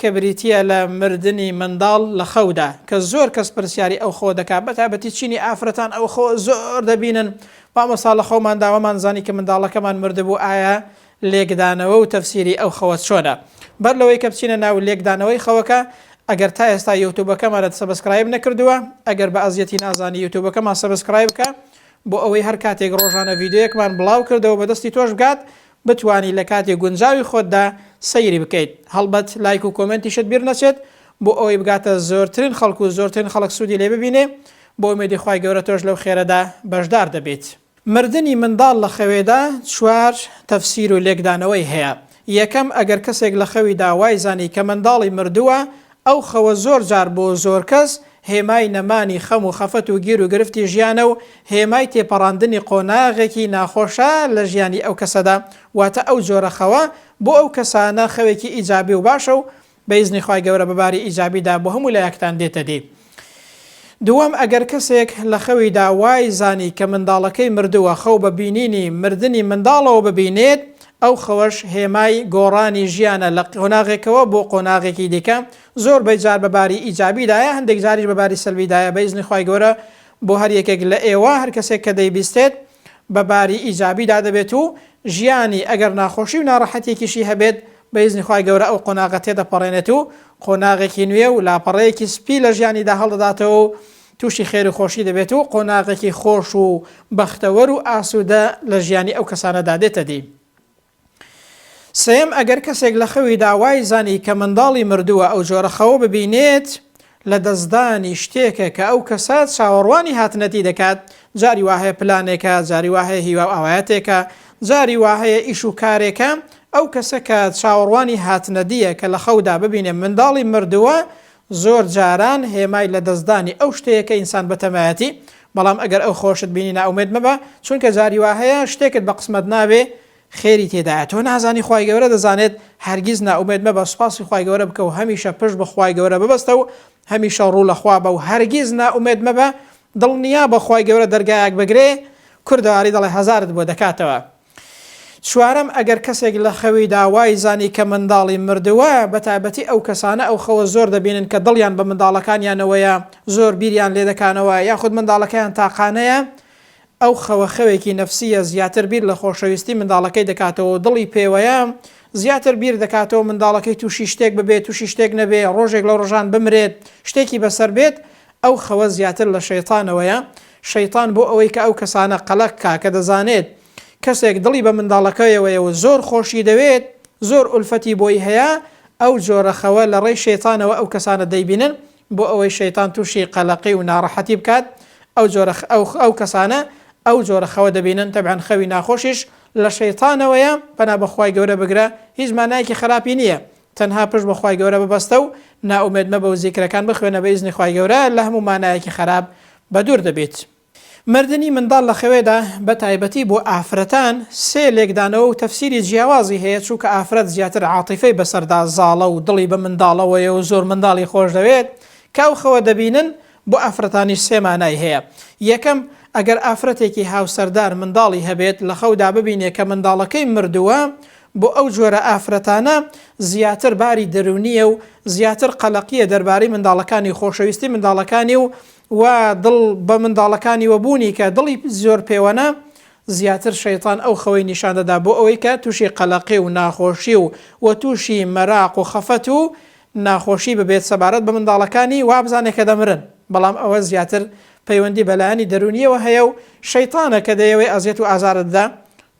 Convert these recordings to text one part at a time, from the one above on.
کە بریتییە لە مردنی منداڵ لە خەودا، کە زۆر کەس پرسیاری ئەو خەوە دەکات، بەتایبەتی چینی ئافرەتان ئەو خەوە زۆر دەبینن، مامۆستا لە خەوماندا وەمان زانی کە منداڵەکەمان مردبوو، ئایا لێکدانەوە و تەفسیری ئەو خەوە چۆنە؟ بەر لەوەی کە بچینە ناو لێکدانەوەی خەوەکە، ئەگەر تا ئێستا یوتوبەکەمانت سەبسکرایب نەکردووە، ئەگەر بە ئەزیەتی نازانی یوتوبەکەمان سەبسکرایب بکە، بۆ ئەوەی هەر کاتێک ڕۆژانە ڤیدیۆیەکمان بڵاو کردەوە بەدەستی تۆش بگات، بتوانی لە کاتی گونجاوی خۆتدا سەیری بکەیت هەڵبەت لایک و کۆمێنتیشت بیر نەچێت بۆ ئەوەی بگاتە زۆرترین خەڵک و زۆرترین خەڵک سودی لێ ببینێ بە ئومێدی خوای گەورە تۆش لەو خێرەدا بەشدار دەبیت. مردنی منداڵ لە خەوێدا چوار تەفسیر و لێکدانەوەی هەیە، یەکەم ئەگەر کەسێک لە خەویدا وای زانی کە منداڵی مردووە ئەو خەوە زۆر جار بۆ زۆر کەس هێمای نەمانی خەم و خەفەت و گیر و گرفتی ژیانە و هێمای تێپەڕاندنی قۆناغێکی ناخۆشە لە ژیانی ئەو کەسەدا، واتە ئەو جۆرە خەوە بۆ ئەو کەسانە خەوێکی ئیجابی و باشە و بە ئیزنی خوای گەورە بە باری ئیجابیدا بۆ هەموو لایەکتان دێتە دی. دووەم، ئەگەر کەسێک لە خەویدا وای زانی کە منداڵەکەی مردووە، خەو بە بینینی مردنی منداڵەوە ببینێت، ئەو خەوەش هێمای گۆڕانی ژیانە لە قۆناغێکەوە بۆ قۆناغێکی دیکە، زۆر بەی جار بە باری ئیجابیدایە هەندێک جاریش بە باری سەلبیدایە بە ئیزنی خوای گەورە بۆ هەر یەکێک لە ئێوە هەر کەسێک کە دەیبیستێت بە باری ئیجابیدا دەبێت و ژیانی ئەگەر ناخۆشی و ناڕەحەتیەکیشی هەبێت بە ئیزنی خوای گەورە ئەو قۆناغە تێدەپەڕێنێت و قۆناغێکی نوێ و لاپەڕەیەکی سپی لە ژیانیدا هەڵدەداتەوە و تووشی خێر و خۆشی دەبێت و قۆناغێکی خۆش و بەختەوەر و ئاسوودە لە ژیانی ئەو کەسانەدا دێتەدی. سێیەم، ئەگەر کەسێک لە خەویدا وای زانی کە منداڵی مردووە ئەو جۆرە خەوە ببینێت، لە دەستدانی شتێکە کە ئەو کەسە چاوەڕوانی هاتنەتی دەکات، جاری وا هەیە پلانێکە، جاری وا هەیە هیوا و ئاوایەتێکە، جاری وا هەیە ئیش و کارێکە، ئەو کەسە کە چاوەڕوانی هاتنەدییە کە لە خەودا ببینێ منداڵی مردووە زۆر جاران هێمای لە دەستدانی ئەو شتەیە کە ئینسان بەتەمایەتی، بەڵام ئەگەر ئەو خۆشت بینی نائومێد مەبە، چونکە جاری وا هەیە شتێکت بە قسمەت نابێ خێری تێدایە، تۆ نازانی خوای گەورە دەزانێت، هەرگیز نائومێد مەبە سوپاسی خوای گەورە بکە و هەمیشە پشت بە خوای گەورە ببەستە و هەمیشە ڕوو لە خوا بە و هەرگیز نائومێد مەبە، دڵنیابە خوای گەورە دەرگایەک بگرێ، کوردەواری دەڵێ هەزارت بۆ دەکاتەوە. چوارەم، ئەگەر کەسێک لە خەویدا وای زانی کە منداڵی مردووە، بە تایبەتی ئەو کەسانە ئەو خەوە زۆر دەبینن کە دڵیان بە منداڵەکانیانەوەیە، زۆر بیریان لێدەکانەوە، یاخود منداڵەکەیان تاقانەیە، ئەو خەوە خەوێکی نەفسییە، زیاتر بیر لە خۆشەویستی منداڵەکەی دەکاتەوە و دڵی پێوەیە، زیاتر بیر دەکاتەوە منداڵەکەی تووشی شتێک ببێت، تووشی شتێک نەبێت، ڕۆژێک لە ڕۆژان بمرێت، شتێکی بەسەر بێت، ئەو خەوە زیاتر لە شەیتانەوەیە، شەیتان بۆ ئەوەی کە ئەو کەسانە قەلەق کا کە دەزانێت کەسێک دڵی بە منداڵەکەیەوەیە و زۆر خۆشی دەوێت، زۆر ئولفەتی بۆی هەیە، ئەو جۆرە خەوە لە ڕێی شەیتانەوە ئەو کەسانە دەیبینن بۆ ئەوەی شەیتان توشی قەلەقی و ناڕەحەتی بکات ئەو جۆرە ئەو کەسانە ئەو جۆرە خەوە دەبینن تەبعەن خەوی ناخۆشیش لە شەیتانەوەیە پەنا بەخوای گەورە بگرە هیچ مانایەکی خەراپی نییە تەنها پشت بە خوای گەورە ببەستە و نائومێد مەبە و زیکرەکان بخوێنە بە ئیزنی خوای گەورە لە هەموو مانایەکی خەراپ بەدوور دەبیت. مردنی منداڵ لە خەوێدا بە تایبەتی بۆ ئافرەتان سێ لێکدانەوە و تەفسیری جیاوازی هەیە چوونکە ئافرەت زیاتر عاتیفەی بەسەردا زاڵە و دڵی بە منداڵەوەیە و زۆر منداڵی خۆش دەوێت کە ئەو خەوە دەبینن بۆ ئافرەتانیش سێ مانای هەیە یەکەم ئەگەر ئافرەتێکی هاوسەردار منداڵی هەبێت لە خەودا ببینێ کە منداڵەکەی مردووە بۆ ئەو جۆرە ئافرەتانە زیاتر باری دەروونییە و زیاتر قەلەقییە دەربارەی منداڵەکانی، خۆشەویستی منداڵەکانی و و دڵ بە منداڵەکانیوە بوونی کە دڵی زۆر پێوەنە، زیاتر شەیتان ئەو خەوەی نیشان دەدا بۆ ئەوەی کە تووشی قەلەقی و ناخۆشی و و تووشی مەراق و خەفەت و ناخۆشی ببێت سەبارەت بە منداڵەکانی وابزانێت کە دەمرن بەڵام ئەوە زیاتر پەیوەندی بە لایەنی دەروونییەوە هەیە و شەیتانە کە دەیەوێت ئەزیەت و ئازارت بدات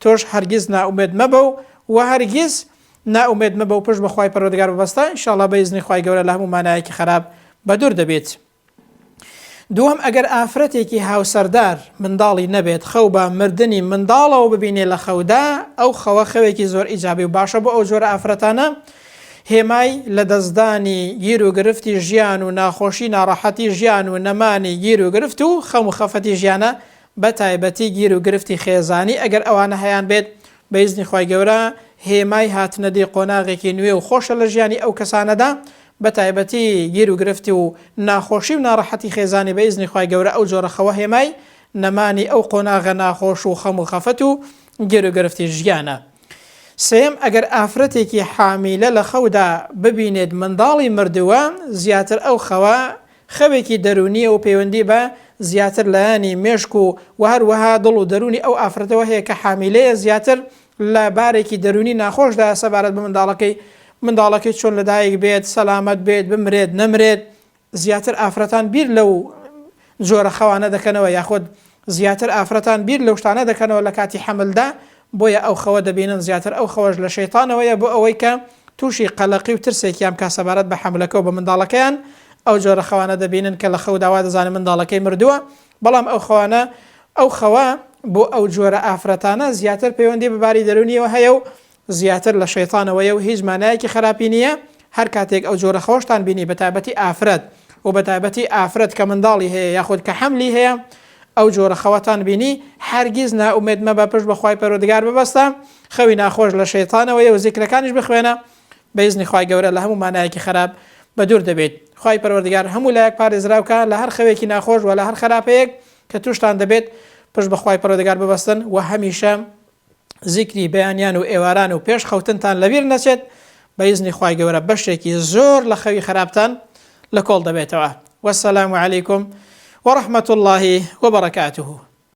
تۆش هەرگیز نائومێد مەبە و وە هەرگیز نائومێد مەبە و پشت بە خوای پەروەردگار ببەستە ان شاءاللە بە ئیزنی خوای گەورە لە هەموو مانایەکی خەراپ بە دوور دەبیت. دووەم ئەگەر ئافرەتێکی هاوسەردار منداڵی نەبێت خەو بە مردنی منداڵەوە ببینێ لە خەودا ئەو خەوە خەوێکی زۆر ئیجابی و باشە بۆ ئەو جۆرە ئافرەتانە هێمای لە دەستدانی گیر و گرفتی ژیان و ناخۆشی ناڕەحەتی ژیان و نەمانی گیر و گرفت و خەم و خەفەتی ژیانە بە تایبەتی گیر و گرفتی خێزانی ئەگەر ئەوانە هەیان بێت بە ئیزنی خوای گەورە هێمای هاتنە دی قۆناغێکی نوێ و خۆشە لە ژیانی ئەو کەسانەدا بە تایبەتی گیر و گرفتی و ناخۆشی و ناڕەحەتی خێزانی بە ئیزنی خوای گەورە ئەو جۆرە خەوە هێمای نەمانی ئەو قۆناغە ناخۆش و خەم و خەفەت و گیر و گرفتی ژیانە. سێیەم ئەگەر ئافرەتێکی حامیلە لە خەودا ببینێت منداڵی مردووە زیاتر ئەو خەوە خەوێکی دەروونییە و پەیوەندی بە زیاتر لایەنی مێشک و و هەروەها دڵ و دەروونی ئەو ئافرەتەوە هەیە کە حامیلەیە زیاتر لە بارێکی دەروونی ناخۆشدایە سەبارەت بە منداڵەکەی منداڵەکەی چۆن لە دایک بێت سەلامەت بێت بمرێت نەمرێت زیاتر ئافرەتان بیر لەو جۆرە خەوانە دەکەنەوە یاخود زیاتر ئافرەتان بیر لەو شتانە دەکەنەوە لە کاتی حەملدا بۆیە ئەو خەوە دەبینن زیاتر ئەو خەوەش لە شەیتانەوەیە بۆ ئەوەی کە توشی قەلەقی و ترسێکیان بکات سەبارەت بە حەملەکە و بە منداڵەکەیان ئەو جۆرە خەوانە دەبینن کە لە خەودا وا دەزانن منداڵەکەی مردووە بەڵام ئەو خەوانە ئەو خەوە بۆ ئەو جۆرە ئافرەتانە زیاتر پەیوەندی بە باری دەرونیەوە هەیە و زیاتر لە شەیتانەوەیە و هیچ مانایەکی خەراپی نییە، هەر کاتێک ئەو جۆرە خەوەشتان بینی بە تایبەتی ئافرەت و بە تایبەتی ئافرەت کە منداڵی هەیە یاخود کە حەملی هەیە ئەو جۆرە خەوەتان بینی هەرگیز نائومێد مەبە پشت بە خوای پەروەردگار ببەستە خەوی ناخۆش لە شەیتانەوەیە و زیکرەکانیش بخوێنە بە ئیزنی خوای گەورە لە هەموو مانایەکی خەراپ بە دوور دەبێت خوای پەروەردگار هەموو لایەک پارێزراو کا لە هەر خەوێکی ناخۆش و لە هەر خەراپەیەک کە توشتان دەبێت پشت بە خوای پەروەردگار ببەستن و هەمیشە زیکری بەیانیان و ئێواران و پێش خەوتنتان لەبیر نەچێت بە ئیزنی خوای گەورە بەشێکی زۆر لە خەوی خراپتان لە کۆڵ دەبێتەوە وەسەلام علیکم وەڕەحمەت اللهی وبەڕەکاتوه.